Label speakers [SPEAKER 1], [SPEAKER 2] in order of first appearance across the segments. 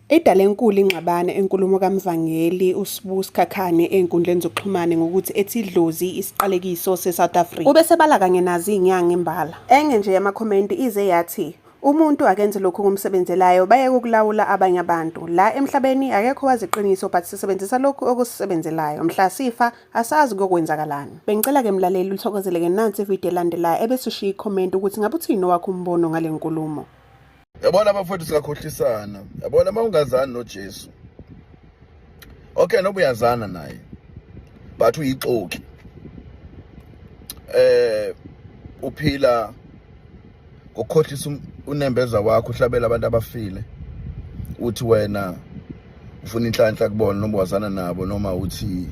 [SPEAKER 1] Edale enkulu ingxabano enkulumo kaMvangeli uSbu Sikhakhane ezinkundleni zokuxhumana ngokuthi ethi idlozi isiqalekiso seSouth Africa. Ubesebala kanye nazi inyanga imbala. Enye nje yamakhomenti ize yathi Umuntu akenze lokhu kumsebenzelayo bayeke ukulawula abanye abantu. La emhlabeni akekho wazi iqiniso but sisebenzisa lokhu okusisebenzelayo. Mhla sifa Asazi kokwenzakalani. Bengicela ke mlaleli uthokozele ke nansi ivideo elandelayo ebese ushiya icomment ukuthi ngabe uthini owakho umbono ngale nkulumo. Yabona
[SPEAKER 2] abafowethu singakhohlisana. Yabona uma ungazani noJesu. Okay noba uyazana naye. But uyixoki. Eh uphila ngokhohlisa um-, unembeza wakho uhlabela abantu abafile uthi wena ufuna inhlanhla kubona noma wazana nabo noma uthi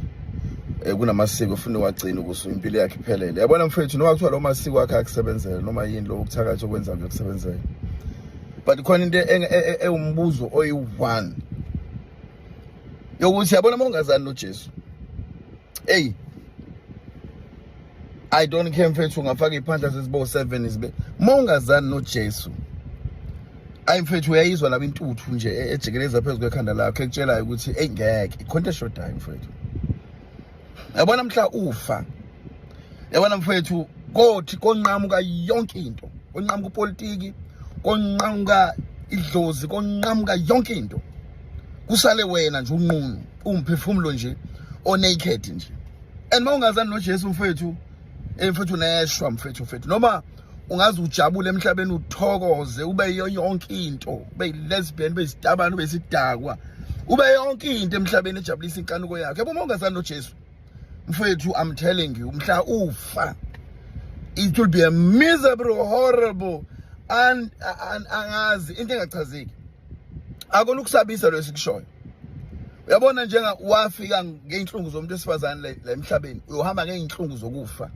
[SPEAKER 2] eh, kunamasiko ufuna wagcina ukuze impilo yakhe iphelele yabona mfethu noma kuthiwa lo masiko akhe akusebenzela noma yini lo ukuthakatha okwenza kuyokusebenzela but khona into e-, e-, ewumbuzo oyi-one yokuthi yabona uma ungazani nojesu eyi i don't care mfethu ungafaka iy'phandla zezibo seven zibe uma ungazani nojesu ayi mfethu uyayizwa laba intuthu nje e-, ejikeleza phezu kwekhanda lakho ekutshelayo ukuthi eyi ngeke ikhonto eshodayo mfethu yabona mhla ufa yabona mfethu kothi konqamuka yonke into konqamuka upolitiki konqamuka idlozi konqamuka yonke into kusale wena nje unqunu umphefumulo nje onaked nje and mawungazani noJesu mfethu eh mfethu neshwa mfethu mfethu noma ungaze ujabule emhlabeni uthokoze ube yiyo yonke into ube lesbian ube isitabani ube sidakwa ube yonke into emhlabeni ejabulisa inkanuko yakhe yabo mawungazani noJesu mfethu i'm telling you mhla ufa it will be a miserable horrible and angazi into engachazeki akona ukusabisa lo esikushoyo uyabona njenga wafika ngeyinhlungu zomuntu esifazane la emhlabeni uyohamba ngeyinhlungu zokufa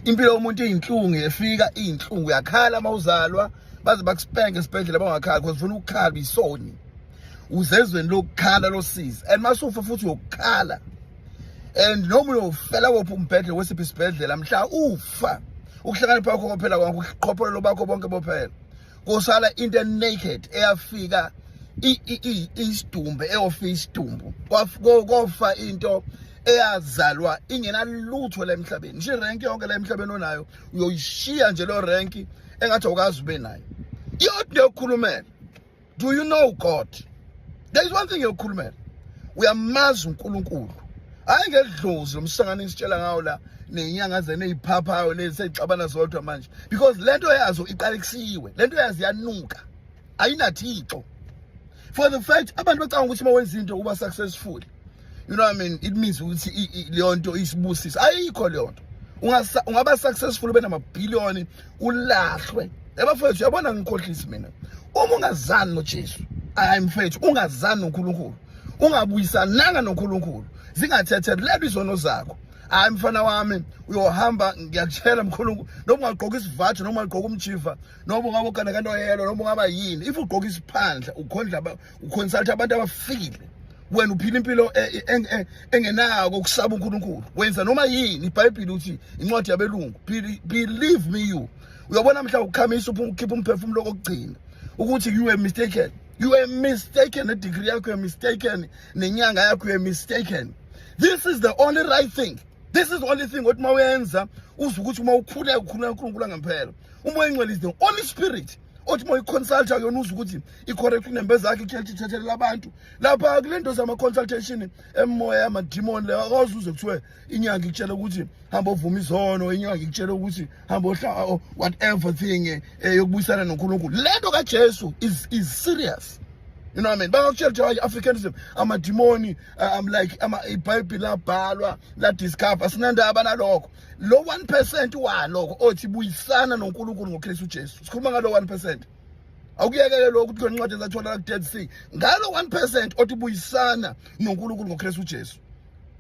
[SPEAKER 2] impilo yomuntu iyinhlungu yefika iyinhlungu uyakhala uma uzalwa baze bakuspenke esibhedlela bangakhali because ufuna ukukhala isoni uzezweni lokukhala losizi and masufa futhi uyokukhala and noma uyofela kophi umbhedle wesiphi isibhedlela mhla ufa ukuhlakanipha kwakho kwaphela kwakho uqhopholelo bakho bonke bophela kusala into naked eyafika isidumbe eyofa isidumbu kofa into eyazalwa ingenalutho la emhlabeni nje rank yonke la emhlabeni onayo uyoyishiya nje lo rank engathi awukazi ube nayo yodwa yokukhulumela do you know god there is one thing yokukhulumela uyamazi uNkulunkulu hayi ngedlozi lomsangano isitshela ngawo la nenyanga zene eziphaphayo lezi seyixabana zodwa manje because lento yazo iqalekisiwe lento yazi yanuka ayinathixo for the fact abantu bacanga ukuthi uma wenza into uba successful you know what I mean it means ukuthi leyo nto isibusisa ayikho leyo nto ungaba successful ube namabhiliyoni ulahlwe ebafowethu yabona ngikhohlisi mina uma ungazani nojesu hayi mfethu ungazani nonkulunkulu ungabuyisananga nonkulunkulu zingathethelelwa izono zakho hayi mfana wami uyohamba ngiyakutshela mkhulu noma ungagqoka isivajo noma ungagqoka umjiva noma ungabogana kantoyelo noma ungaba yini if ugqoka isiphandla ukhondla uconsulta abantu abafile wena uphila impilo e, e, e, e, engenako ukusaba uNkulunkulu wenza noma yini iBhayibheli uthi incwadi yabelungu believe me you uyabona mhla ukukhamisa ukhipha umphefumulo kokugcina ukuthi you were mistaken you were mistaken nedegree yakho you're mistaken nenyanga yakho you're mistaken this is the only right thing this is the only thing othi uma uyenza uze ukuthi uma ukhuleka ukhuleka uNkulunkulu angempela umoya engcwele is the only spirit othi uma uyiconsulta kuyona uzwa ukuthi i-correct inembeza yakhe ichurch ithethelela abantu lapha kule nto zama-consultation emoya yamadimoni leyo akwazi uze kuthiwe inyanga ikutshela ukuthi hamba ovuma izono inyanga ikutshela ukuthi hamba ohla whatever thing eh, eh, yokubuyisana nonkulunkulu le nto kajesu is, is serious you know what I mean bakakutshela ukuthi hayi africanism amadimoni eh, um like ibhayibhile labhalwa ladiscover sinandaba nalokho lo 1 percent waloko othi buyisana noNkulunkulu ngoKristu Jesu sikhuluma ngalo 1 percent awukuyekele lokho ukuthi kwencwadi ezatholakala ku-dead sea ngalo 1 percent othi buyisana noNkulunkulu ngoKristu Jesu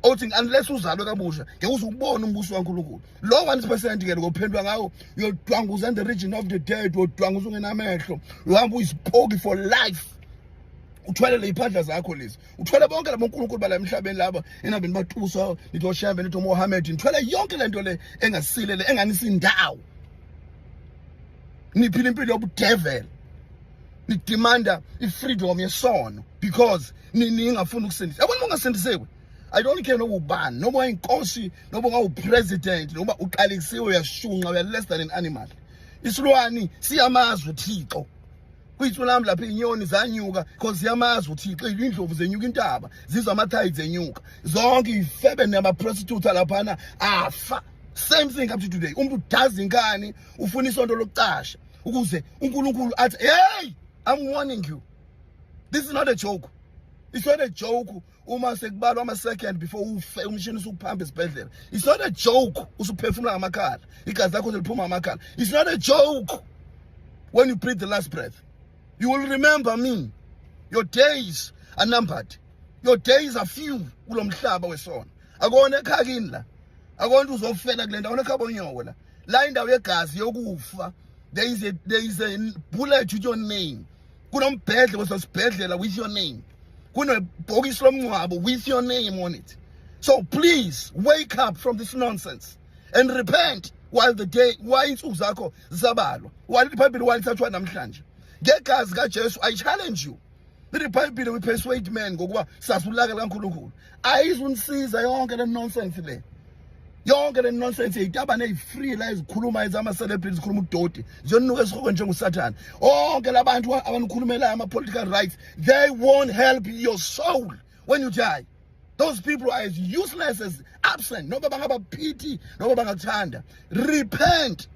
[SPEAKER 2] othi unless uzalwe kabusha ngeke uze ubone umbuso waNkulunkulu lo 1% ke lokuphendwa ngawo uyodwanguza in the region of the dead uyodwanguza ungenamehlo uhamba uyisipoki for life uthwalele iphandla zakho lezi uthwele bonke labo nkulunkulu bala emhlabeni laba enabeni batusa nithi oshembe nithi umohammed nithwele yonke le nto le engasile le enganisindawo niphila impilo yobudevela nidimanda i-freedom yesono because ningafuni ukusindisa yabona uma ungasindisiwe i don't care noba ubani noma wayinkosi noma ungawupresident noma uqalekisiwe uyashunqa uya less than an animal isilwani siyamazwe thixo kwithu lami lapha inyoni zanyuka cause yamazi uthixo indlovu zenyuka intaba zizwa amathayi zenyuka zonke ifebe namaprostitute alaphana afa same thing up to today umuntu udazi inkani ufuna isonto lokucasha ukuze uNkulunkulu athi hey i'm warning you this is not a joke it's not a joke uma sekubalwa ama-second before ufe umshini usukuphamba esibhedlela it's not a joke usuphefumula ngamakhala igazi lakho seliphuma ngamakhala it's not a joke when you breathe the last breath you will remember me your days are numbered your days are few kulo mhlaba wesona akona ekhaya kini la akona uzofela kule ndawo akona ekhaya bonyoko la la indawo yegazi yokufa there is a, there is a bullet with your name kunombhedle kwesasibhedlela with your name kunebhokisi lomngcwabo with your name on it so please wake up from this nonsense and repent while the day why insuku zakho zisabalwa while ibhayibhile while thathwa namhlanje ngegazi kajesu i challenge you ibhayibhile we persuade men ngokuba sasulaka likankulunkulu ayizunisiza yonke le nonsense le yonke le nonsense yitabane eyi-free la ezikhuluma ezama-celebrity zikhuluma udoti ziyonuka esikhoko njengosathane onke la bantu abanikhulumelayo ama-political rights they won't help your soul when you die those people are as useless as absent noba bangaba pity noba bangakuthanda repent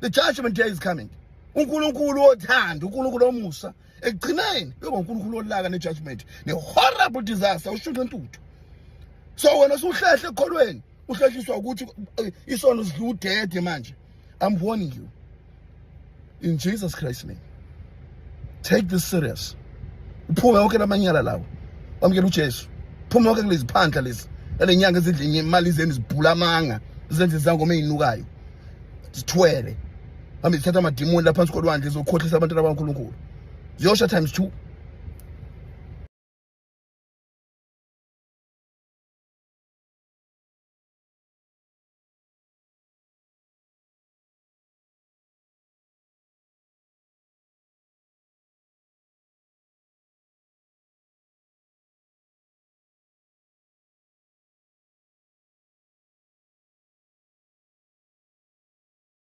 [SPEAKER 2] the judgment day is coming unkulunkulu othanda unkulunkulu omusa ekugcineni kuyoba uNkulunkulu olaka nejudgment ne-horrible disaster ushunqe intuthu so wena usuhlehle ekukholweni uhlehliswa ukuthi eh, isono sidla udede manje i'm warning you in jesus christ name take this serious uphume yonke lamanyala lawo wamukela ujesu phume yonke kulezi phandla lezi nale nyanga ezidla imali zenu zibhula amanga zenze izangoma ezinukayo zithwele hambe zithatha amadimoni laphansi kolwandle zokhohlisa abantwana bakankulunkulu ziyosha times two